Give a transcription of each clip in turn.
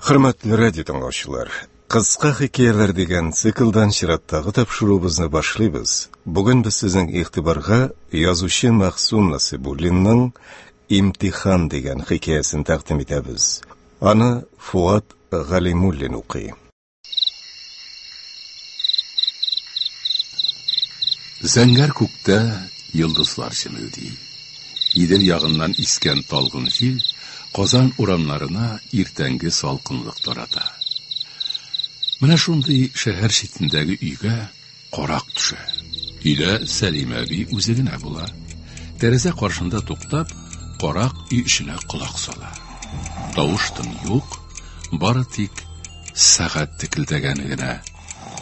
Хөрмәтле радио тыңлаучылар, кыска хикәяләр дигән циклдан чираттагы тапшыруыбызны башлыйбыз. Бүген без сезнең игътибарга язучы Мәхсун Насибуллинның Имтихан дигән хикәясен тәкъдим итәбез. Аны Фуат Галимуллин укый. Зәңгәр күктә йолдызлар җемелди. Идел ягыннан искән талгын җил Казан урамнарына иртәнге салкынлык тарата. Менә шундый шәһәр читендәге өйгә Карак төшә. Өйдә Сәлимә әби үзе генә була. Тәрәзә каршында туктап, карак өй эченә колак сала. Тавыш-тын юк, бары тик сәгать текелдәгәне генә,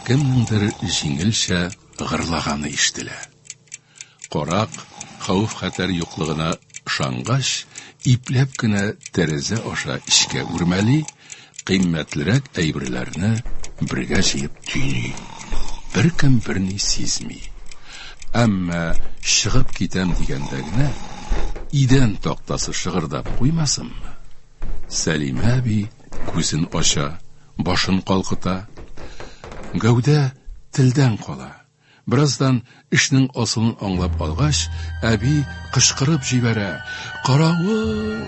кемнеңдер җиңелчә гырлаганы ишетелә. Карак, хәвеф-хәтәр юклыгына ышангач, ипләп кенә тәрәзә аша эчкә үрмәли, кыйммәтлерәк әйберләрне бергә җыеп төйни. Беркем берни сизми. Әмма чыгып китәм дигәндә генә, идән тактасы шыгырдап куймасынмы? Сәлимә әби күзен ача, башын калкыта. Гәүдә телдән кала. Бераздан, эшнең асылын аңлап алгач, әби кычкырып җибәрә, Каравыл!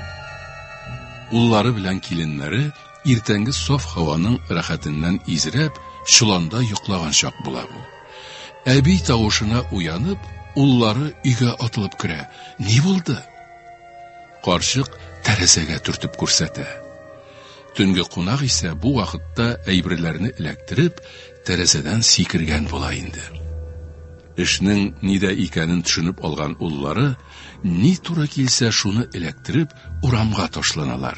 Уллары белән киленнәре иртәнге саф һаваның рәхәтеннән изрәп, чоланда йоклаган чак була бу. Әби тавышына уянып, уллары өйгә атылып керә. Ни булды? Карчык тәрәзәгә төртеп күрсәтә. Төнге кунак исә бу вакытта әйберләрне эләктереп, тәрәзәдән сикергән була инде. Эшнең нидә икәнен төшенеп алган уллары, ни туры килсә, шуны эләктереп, урамга ташланалар.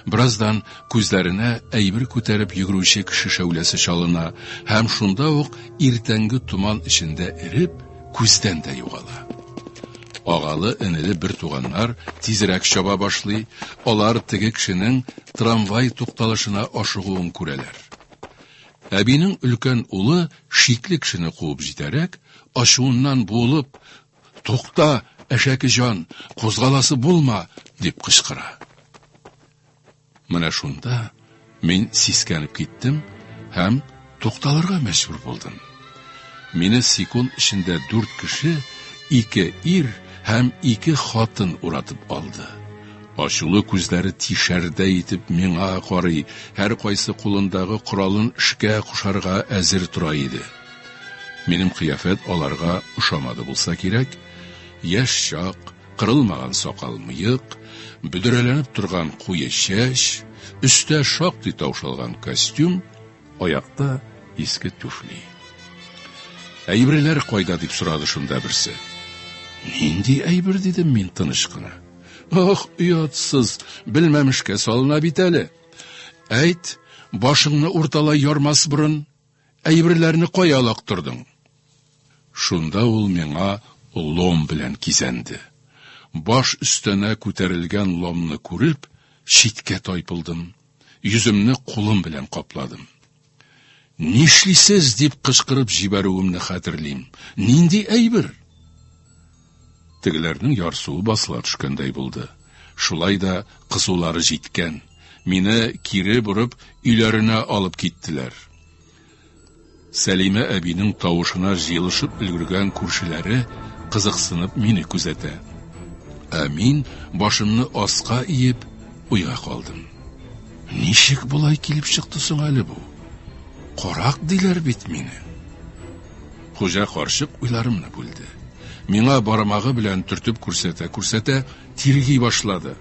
Бераздан күзләренә әйбер күтәреп йөгерүче кеше шәүләсе чалына, һәм шунда ук иртәнге томан эчендә эреп, күздән дә югала. Агалы-энеле бертуганнар тизрәк чаба башлый, алар теге кешенең трамвай тукталышына ашыгуын күрәләр. Әбинең өлкән улы шикле кешене куып җитәрәк, ачуыннан буылып, Тукта, әшәке җан, кузгаласы булма! дип кычкыра. Менә шунда мин сискәнеп киттем һәм тукталырга мәҗбүр булдым. Мине секунд эчендә дүрт кеше, ике ир һәм ике хатын уратып алды. Ачулы күзләре тишәрдә итеп миңа карый, һәр кайсы кулындагы коралын эшкә кушарга әзер тора иде. Минем кыяфәт аларга ошамады булса кирәк, яшь чак, Кырылмаган сакал-мыек, бөдрәләнеп торган куе чәч, өстә шактый таушалган костюм, аякта иске түфли. Әйберләр кайда, дип сорады шунда берсе. Нинди әйбер, дидем мин тыныч кына. Ох, оятсыз, белмәмешкә салына бит әле. Әйт, башыңны урталай ярмас борын, Әйберләрне кая алактырдың? Шунда ул миңа лом белән кизәнде. Баш өстенә күтәрелгән ломны күреп, читкә тайпылдым, йөземне кулым белән капладым. Нишлисез, дип кычкырып җибәрүемне хәтерлим. Нинди әйбер? Тегеләрнең ярсуы басыла төшкәндәй булды. Шулай да кызулары җиткән. Мине кире борып, өйләренә алып киттеләр. Сәлимә әбинең тавышына җыелышып өлгергән күршеләре кызыксынып мине күзәтә. Ә мин башымны аска иеп уйга калдым. Ничек болай килеп чыкты соң әле бу? Карак диләр бит мине. Хуҗа карчык уйларымны бүлде. Миңа бармагы белән төртеп күрсәтә-күрсәтә, тирги башлады.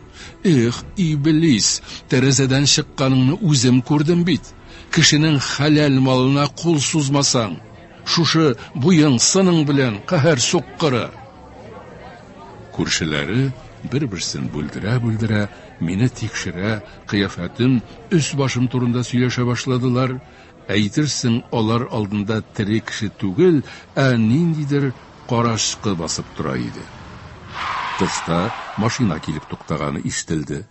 Эх, иблис, тәрәзәдән чыкканыңны үзем күрдем бит. Кешенең хәләл малына кул сузмасаң, шушы буең, сының белән каһәр суккыры! Күршеләре бер-берсен бүлдерә-бүлдерә, мине тикшерә, кыяфәтем, өс-башым турында сөйләшә башладылар. Әйтерсең, алар алдында тере кеше түгел, ә ниндидер карачкы басып тора иде. Тышта машина килеп туктаганы ишетелде.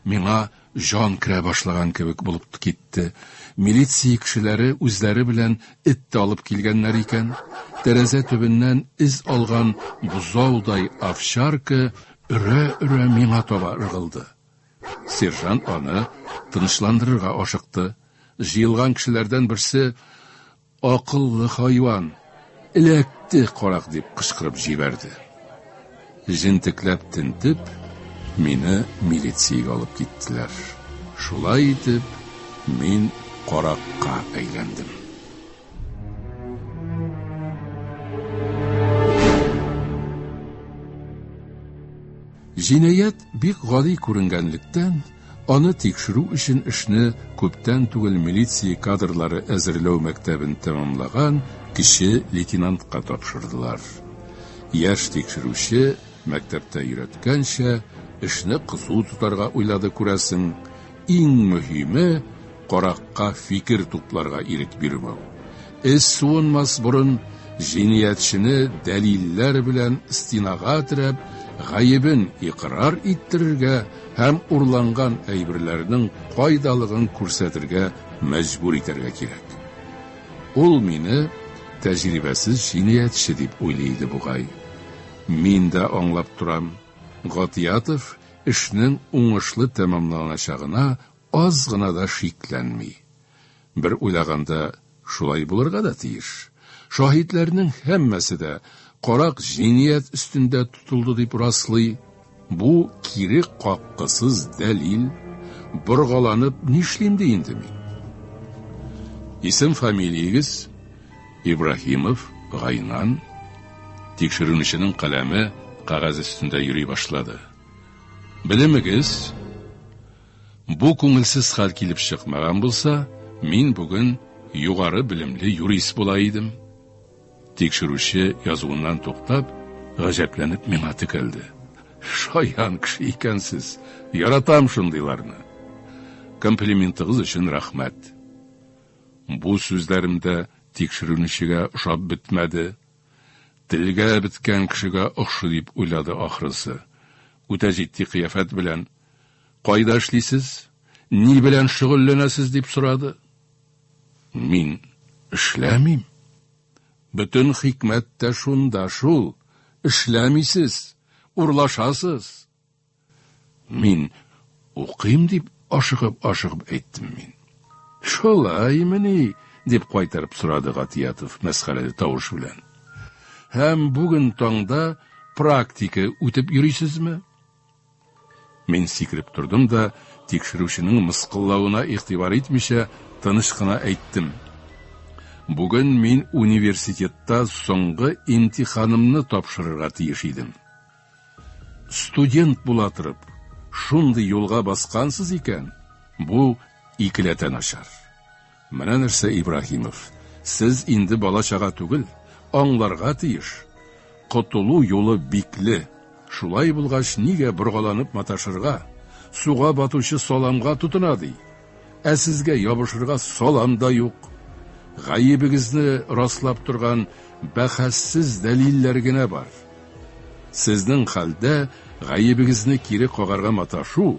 Миңа җан керә башлаган кебек булып китте. Милиция кешеләре үзләре белән эт тә алып килгәннәр икән. Тәрәзә төбеннән эз алган бозаудай овчарка өрә-өрә миңа таба ыргылды. Сержант аны тынычландырырга ашыкты. Җыелган кешеләрдән берсе, Акыллы хайван! Эләкте, карак! дип кычкырып җибәрде. Җентекләп тентеп, мине милициягә алып киттеләр. Шулай итеп, мин каракка әйләндем. Җинаять бик гади күренгәнлектән, аны тикшерү өчен эшне күптән түгел милиция кадрлары әзерләү мәктәбен тәмамлаган кече лейтенантка тапшырдылар. Яшь тикшерүче, мәктәптә өйрәткәнчә, эшне кызу тотарга уйлады, күрәсең. Иң мөһиме, каракка фикер тупларга ирек бирмәү. Эз суынмас борын җиниятчене дәлилләр белән стенага терәп, гаебен икърар иттерергә һәм урланган әйберләрнең кайдалыгын күрсәтергә мәҗбүр итәргә кирәк. Ул мине тәҗрибәсез җиниятче дип уйлый иде бугай. Мин дә аңлап торам, Гатиятов эшнең уңышлы тәмамланачагына аз гына да шикләнми. Бер уйлаганда, шулай булырга да тиеш. Шаһитләрнең һәммәсе дә карак җиният өстендә тотылды дип раслый. Бу кире каккысыз дәлил. Боргаланып нишлим ди инде мин? Исем-фамилиягез? Ибраһимов Гайнан. Тикшерүнеченең каләме кагаз өстендә йөри башлады. Белемегез? Бу күңелсез хәл килеп чыкмаган булса, мин бүген югары белемле юрист була идем. Тикшерүче язуыннан туктап, гаҗәпләнеп миңа текәлде. Шаян кеше икәнсез. Яратам шундыйларны. Комплиментыгыз өчен рәхмәт. Бу сүзләремдә тикшерүнечегә ошап бетмәде. Телгә беткән кешегә охшы дип уйлады ахрысы. Үтә җитди кыяфәт белән Кайда эшлисез? Ни белән шөгыльләнәсез? дип сорады. Мин эшләмим. Бөтен хикмәт тә шунда шул. Эшләмисез, урлашасыз. Мин укыйм дип ашыгып-ашыгып әйттем мин. Шулаймыни? дип кайтарып сорады Гатиятов мәсхәрәле тавыш белән. Һәм бүген таңда практика үтеп йөрисезме? Мин сикереп тордым да, тикшерүченең мыскыллавына игътибар итмичә, тыныч кына әйттем. Бүген мин университетта соңгы имтиханымны тапшырырга тиеш идем. Студент була торып, шундый юлга баскансыз икән, бу икеләтә начар. Менә нәрсә, Ибраһимов, сез инде бала-чага түгел, аңларга тиеш, котылу юлы бикле, шулай булгач, нигә боргаланып маташырга, суга батучы саламга тотына ди, ә сезгә ябышырга салам да юк. Гаебегезне раслап торган бәхәссез дәлилләр генә бар. Сезнең хәлдә гаебегезне кире кагарга маташу,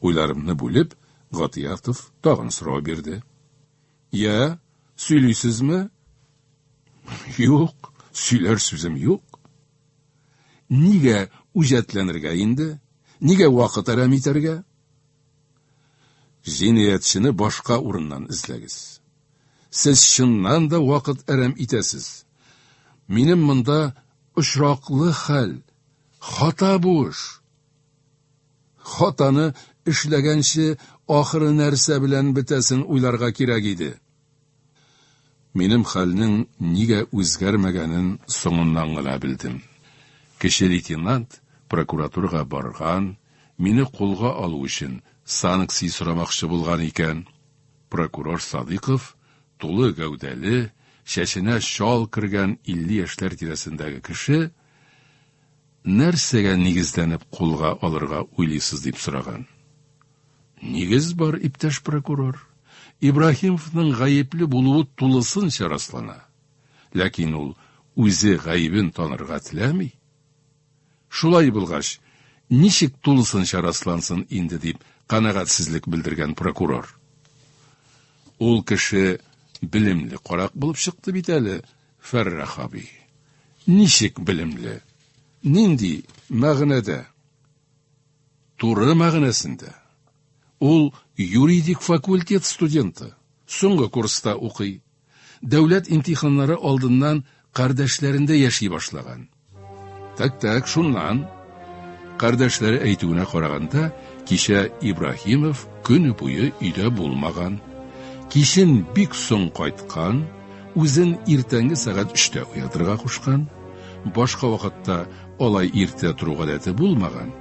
Уйларымны бүлеп, Гатиятов тагын сорау бирде. Я, сөйлисезме? Юк, сөйләр сүзем юк. Нигә үҗәтләнергә инде? Нигә вакыт әрәм итәргә? Җинаятьчене башка урыннан эзләгез. Сез чыннан да вакыт әрәм итәсез. Минем монда очраклы хәл, хата буш. Хатаны эшләгәнче, ахыры нәрсә белән бетәсен уйларга кирәк иде. Минем хәлнең нигә үзгәрмәгәнен соңыннан гына белдем. Кече лейтенант прокуратурага барган, мине кулга алу өчен санкция сорамакчы булган икән. Прокурор Садыйков, тулы гәүдәле, чәченә чал кергән илле яшьләр тирәсендәге кеше, Нәрсәгә нигезләнеп кулга алырга уйлыйсыз, дип сораган. Нигез бар, иптәш прокурор. Ибраһимовның гаепле булуы тулысынча раслана. Ләкин ул үзе гаебен танырга теләми. Шулай булгач, ничек тулысынча раслансын инде, дип канәгатьсезлек белдергән прокурор. Ул кеше белемле карак булып чыкты бит әле, Фәррах абый. Ничек белемле? Нинди мәгънәдә? Туры мәгънәсендә. Ул юридик факультет студенты. Соңгы курста укый. Дәүләт имтиханнары алдыннан кардәшләрендә яши башлаган. Так-так, шуннан. Кардәшләре әйтүенә караганда, кичә Ибраһимов көне буе өйдә булмаган. Кичен бик соң кайткан, үзен иртәнге сәгать өчтә уятырга кушкан. Башка вакытта алай иртә тору гадәте булмаган.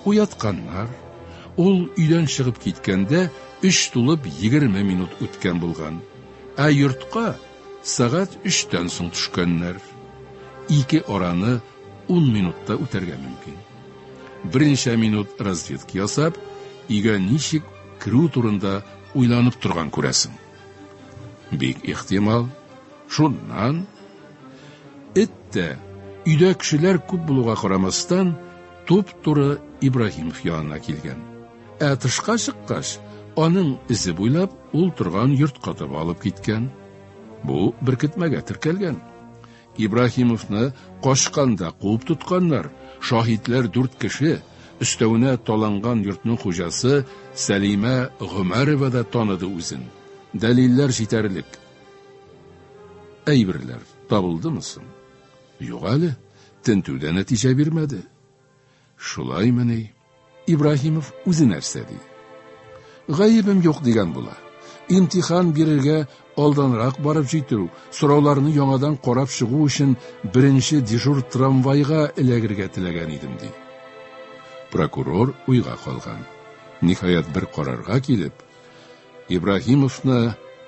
Уятканнар. Ул өйдән чыгып киткәндә, өч тулып егерме минут үткән булган. Ә йортка Сәгать өчтән соң төшкәннәр. Ике араны ун минутта үтәргә мөмкин. Берничә минут разведка ясап, өйгә ничек керү турында уйланып торган күрәсең. Бик ихтимал, шуннан эт тә, өйдә кешеләр күп булуга карамастан, туп-туры Ибраһимов янына килгән. Ә тышка чыккач, аның эзе буйлап ул торган йортка таба алып киткән. Бу беркетмәгә теркәлгән. Ибраһимовны качканда куып тотканнар. Шаһитләр дүрт кеше. Өстәвенә таланган йортның хуҗасы Сәлимә Гомәрова да таныды үзен. Дәлилләр җитәрлек. Әйберләр табылдымы соң? Юк әле, тентү дә нәтиҗә бирмәде. Шулаймыни? Ибраһимов үзе нәрсә ди? Гаебем юк дигән була. Имтихан бирергә алданрак барып җитү, сорауларны яңадан карап чыгу өчен беренче дежур трамвайга эләгергә теләгән идем ди. Прокурор уйга калган. Ниһаять бер карарга килеп, Ибраһимовны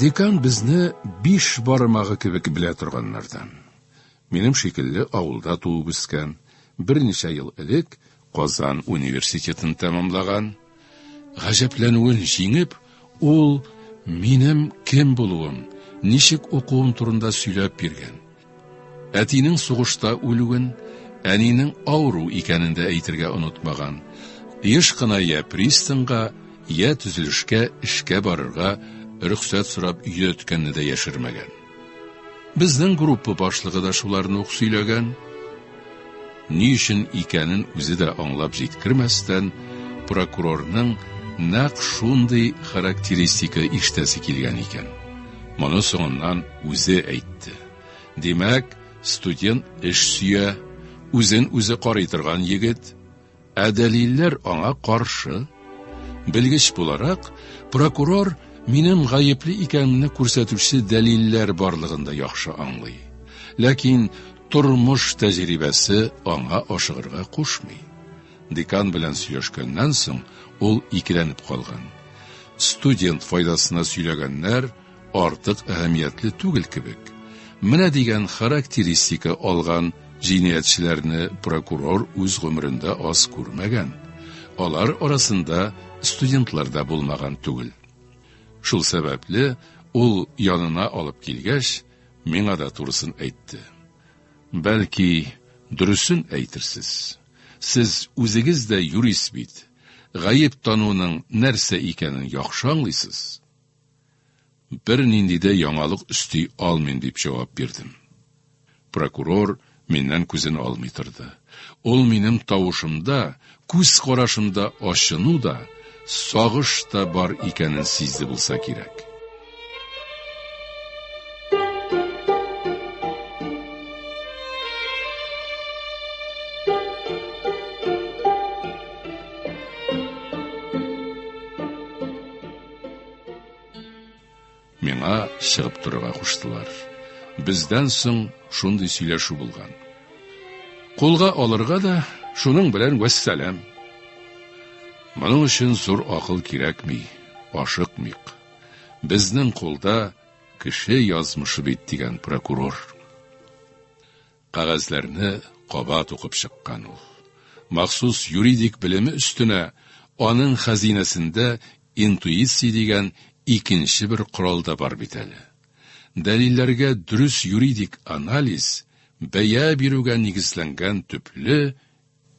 Декан безне биш бармагы кебек белә торганнардан. Минем шикелле авылда туып үскән, берничә ел элек Казан университетын тәмамлаган. Гаҗәпләнүен җиңеп, ул минем кем булуым, ничек укуым турында сөйләп биргән. Әтинең сугышта үлүен, әнинең авыру икәнен дә әйтергә онытмаган. Еш кына йә пристаньга, йә төзелешкә эшкә барырга рөхсәт сорап йөдәткәнне дә яшермәгән. Безнең группа башлыгы да шуларны ук сөйләгән. Ни өчен икәнен үзе дә аңлап җиткермәстән, прокурорның нәкъ шундый характеристика ишетәсе килгән икән. Моны соңыннан үзе әйтте. Димәк, студент эш сөя, үзен-үзе карый торган егет, Ә дәлилләр аңа каршы. Белгеч буларак, прокурор минем гаепле икәнемне күрсәтүче дәлилләр барлыгын да яхшы аңлый. Ләкин тормыш тәҗрибәсе аңа ашыгырга кушмый. Декан белән сөйләшкәннән соң, ул икеләнеп калган. Студент файдасына сөйләгәннәр, артык әһәмиятле түгел кебек. Менә дигән характеристика алган җинаятьчеләрне прокурор үз гомерендә аз күрмәгән. Алар арасында студентлар да булмаган түгел. Шул сәбәпле ул янына алып килгәч, миңа да турысын әйтте. Бәлки, дөресен әйтерсез. Сез үзегез дә юрист бит. Гаеп тануның нәрсә икәнен яхшы аңлыйсыз. Бернинди дә яңалык өсти алмыйм, дип җавап бирдем. Прокурор миннән күзен алмый торды. Ул минем тавышымда, күз карашымда ачыну да, сагыш та бар икәнен сизде булса кирәк. Миңа чыгып торырга куштылар. Бездән соң шундый сөйләшү булган. Кулга алырга да шуның белән вәссәлам. Моның өчен зур акыл кирәкми, ашыкмыйк. Безнең кулда кеше язмышы бит дигән прокурор. Кәгазьләрне кабат укып чыккан ул. Махсус юридик белеме өстенә аның хәзинәсендә интуиция дигән икенче бер корал да бар бит әле. Дәлилләргә дөрес юридик анализ, бәя бирүгә нигезләнгән төпле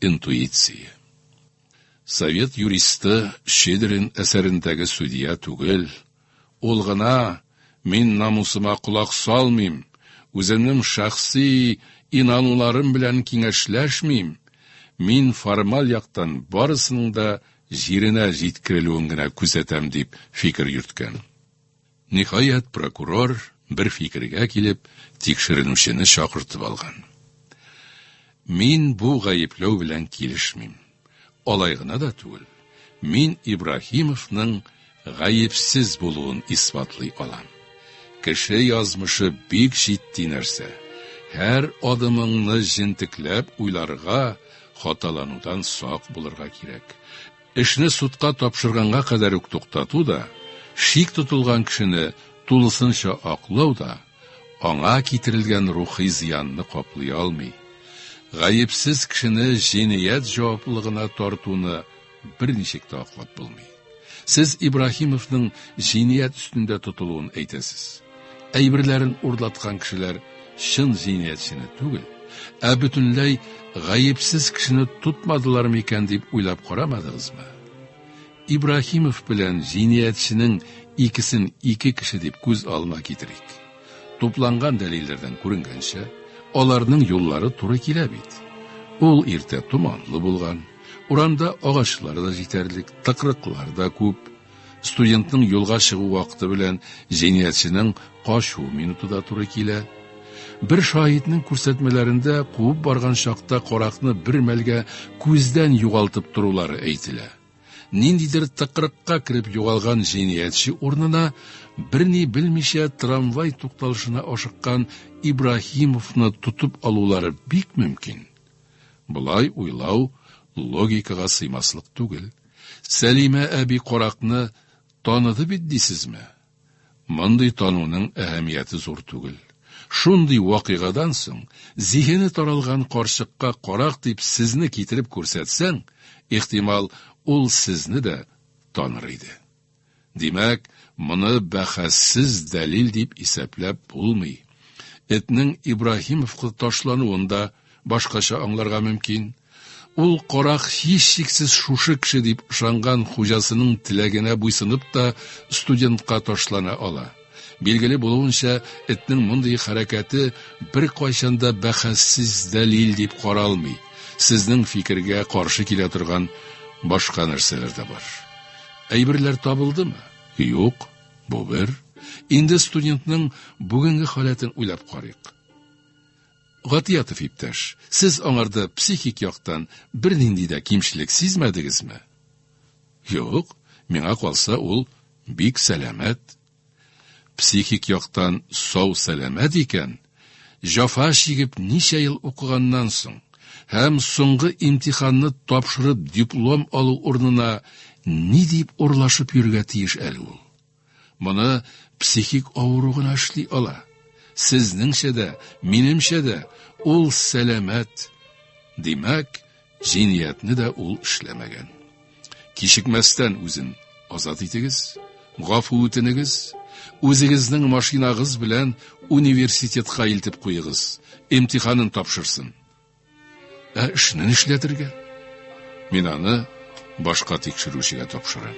интуиция. Совет юристы Щедрин әсәрендәге судья түгел, ул гына, Мин намусыма колак салмыйм, үземнең шәхси инануларым белән киңәшләшмим, мин формаль яктан барысының да җиренә җиткерелүен генә күзәтәм, дип фикер йөрткән. Ниһаять, прокурор, бер фикергә килеп, тикшеренүчене чакыртып алган. Мин бу гаепләү белән килешмим. Алай гына да түгел, мин Ибраһимовның гаепсез булуын исбатлый алам. Кеше язмышы бик җитди нәрсә. Һәр адымыңны җентекләп уйларга, хаталанудан сак булырга кирәк. Эшне судка тапшырганга кадәр үк туктату да, шик тотылган кешене тулысынча аклау да аңа китерелгән рухи зыянны каплый алмый. Гаепсез кешене җинаять җаваплылыгына тартуны берничек тә аклап булмый. Сез Ибраһимовның җинаять өстендә тотылуын әйтәсез. әйберләрен урлаткан кешеләр чын җинаятьчене түгел, ә бөтенләй гаепсез кешене тотмадылар микән дип уйлап карамадыгызмы? Ибраһимов белән җинаятьченең икесен ике кеше дип күз алына китерик. Тупланган дәлилләрдән күренгәнчә, аларның юллары туры килә бит. Ул иртә томанлы булган, урамда агачлар да җитәрлек, тыкрыклар да күп. Студентның юлга чыгу вакыты белән җинаятьченең качу минуты да туры килә. Бер шаһитның күрсәтмәләрендә куып барган чакта каракны бер мәлгә күздән югалтып торулары әйтелә. Ниндидер тыкрыкка кереп югалган җинаятьче урынына берни белмичә трамвай тукталышына ашыккан Ибраһимовны тотып алулары бик мөмкин. Болай уйлау логикага сыймаслык түгел. Сәлимә әби каракны таныды бит дисезме? Мондый тануның әһәмияте зур түгел. Шундый вакыйгадан соң зиһене таралган карчыкка карак дип сезне китереп күрсәтсәң, ихтимал, ул сезне дә таныр иде. Димәк, моны бәхәссез дәлил дип исәпләп булмый. Этнең Ибраһимовка ташлануын да башкача аңларга мөмкин. Ул карак һичшиксез шушы кеше дип ышанган хуҗасының теләгенә буйсынып та студентка ташлана ала. Билгеле булуынча, этнең мондый хәрәкәте беркайчан да бәхәссез дәлил дип каралмый. Сезнең фикергә каршы килә торган башка нәрсәләр дә бар. Әйберләр табылдымы? Юк, бу бер. Инде студентның бүгенге халәтен уйлап карыйк. Гатиятов иптәш, сез аңарда психик яктан бернинди дә кимчелек сизмәдегезме? Юк, миңа калса, ул бик сәламәт. Психик яктан сау-сәламәт икән, җафа чигеп ничә ел укыганнан соң һәм соңгы имтиханны тапшырып диплом алу урынына ни дип урлашып йөрергә тиеш әле ул? Моны психик авыру гына эшли ала. Сезнеңчә дә, минемчә дә ул сәламәт. Димәк, җиниятне дә ул эшләмәгән. Кичекмәстән үзен азат итегез, гафу үтенегез, үзегезнең машинагыз белән университетка илтеп куегыз, имтиханын тапшырсын. Ә эшне нишләтергә? Мин аны башка тикшерүчегә тапшырам.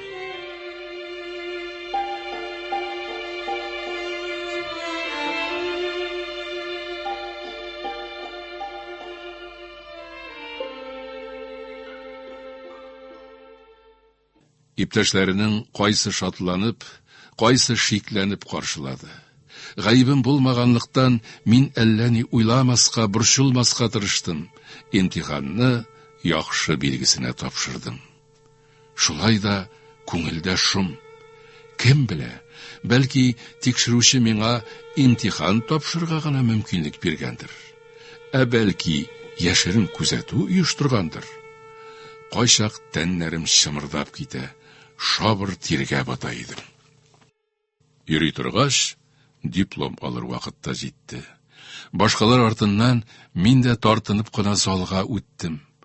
Иптәшләренең кайсы шатланып, кайсы шикләнеп каршылады. Гаебем булмаганлыктан, мин әллә ни уйламаска, борчылмаска тырыштым, имтиханны яхшы билгесенә тапшырдым. Шулай да күңелдә шом. Кем белә, бәлки, тикшерүче миңа имтихан тапшырырга гына мөмкинлек биргәндер. Ә бәлки, яшерен күзәтү оештыргандыр? Кайчак тәннәрем чымырдап китә, шабыр тиргә бата идем. Йөри торгач, диплом алыр вакытта җитте. Башкалар артыннан мин дә тартынып кына залга үттем.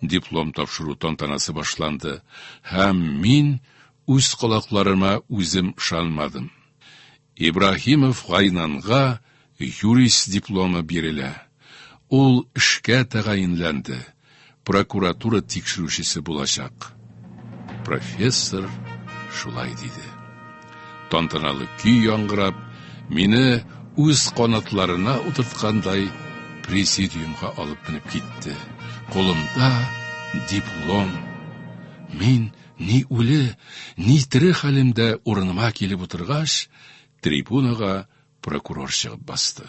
Диплом тапшыру тантанасы башланды һәм мин үз колакларыма үзем ышанмадым. Ибраһимов Гайнанга юрист дипломы бирелә. Ул эшкә тәгаенләнде, прокуратура тикшерүчесе булачак. Профессор шулай диде. Тантаналы көй яңгырап, мине үз канатларына утырткандай президиумга алып менеп китте. Кулымда диплом. Мин ни үле, ни тере хәлемдә урыныма килеп утыргач, трибунага прокурор чыгып басты.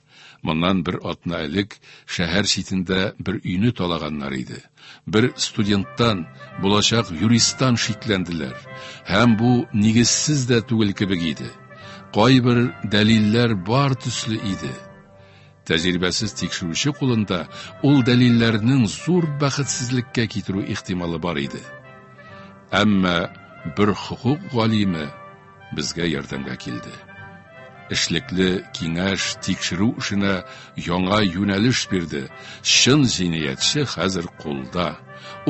Моннан бер атна элек шәһәр читендә бер өйне талаганнар иде. Бер студенттан, булачак юристтан шикләнделәр. Һәм бу нигезсез дә түгел кебек иде. Кайбер дәлилләр бар төсле иде. Тәҗрибәсез тикшерүче кулында ул дәлилләрнең зур бәхетсезлеккә китерү ихтималы бар иде. Әмма бер хокук галиме Безгә ярдәмгә килде. Эшлекле киңәш, тикшерү эшенә яңа юнәлеш бирде. Чын җинаятьче хәзер кулда.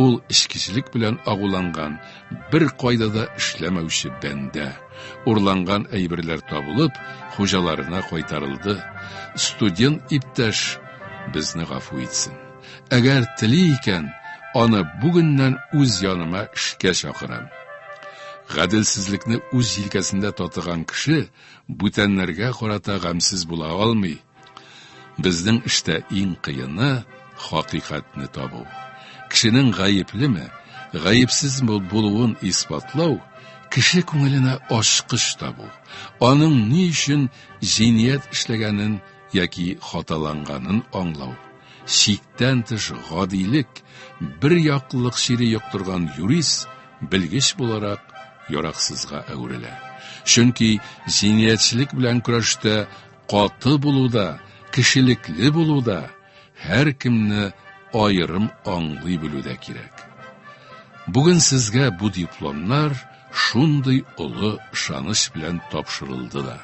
Ул эчкечелек белән агуланган, бер кайда да эшләмәүче бәндә. Урланган әйберләр табылып, хуҗаларына кайтарылды. Студент иптәш безне гафу итсен. Әгәр тели икән, аны бүгеннән үз яныма эшкә чакырам. Гаделсезлекне үз җилкәсендә татыган кеше бүтәннәргә карата гамьсез була алмый. Безнең эштә иң кыены хакыйкатьне табу. Кешенең гаеплеме, гаепсезме булуын исбатлау, кеше күңеленә ачкыч табу, аның ни өчен җиният эшләгәнен яки хаталанганын аңлау. Чиктән тыш гадилек, бер яклылык чире йоктырган юрист белгеч буларак яраксызга әверелә. Чөнки җинаятьчелек белән көрәштә каты булуда, кешелекле булуда, һәркемне аерым аңлый белүдә кирәк. Бүген сезгә бу дипломнар, шундый олы ышаныч белән тапшырылды да.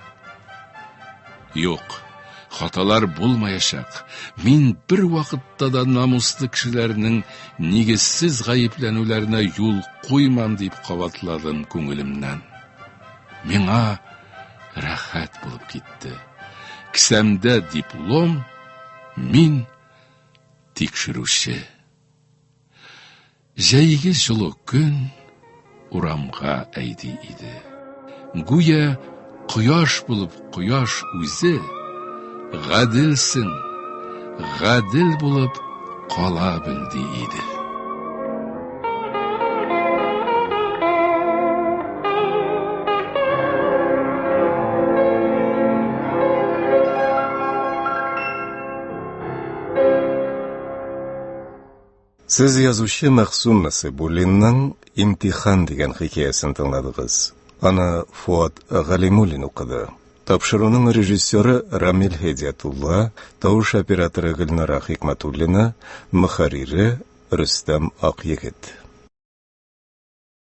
Юк, хаталар булмаячак. Мин бер вакытта да намуслы кешеләрнең нигезсез гаепләнүләренә юл куймам дип кабатладым күңелемнән. Миңа рәхәт булып китте. Кесәмдә диплом, мин тикшерүче. Җәйге җылы көн урамга әйди иде. Гүя кояш булып кояш үзе гаделсең, гадел булып кала бел ди иде. Сез язучы Мәхсүм Насыйбуллинның Имтихан дигән хикәясен тыңладыгыз. Аны Фуат Галимуллин укыды. Тапшыруның режиссеры Рамил Һедиятулла, тавыш операторы Гөлнара Хикматуллина, мөхәррире Рөстәм Акъегет.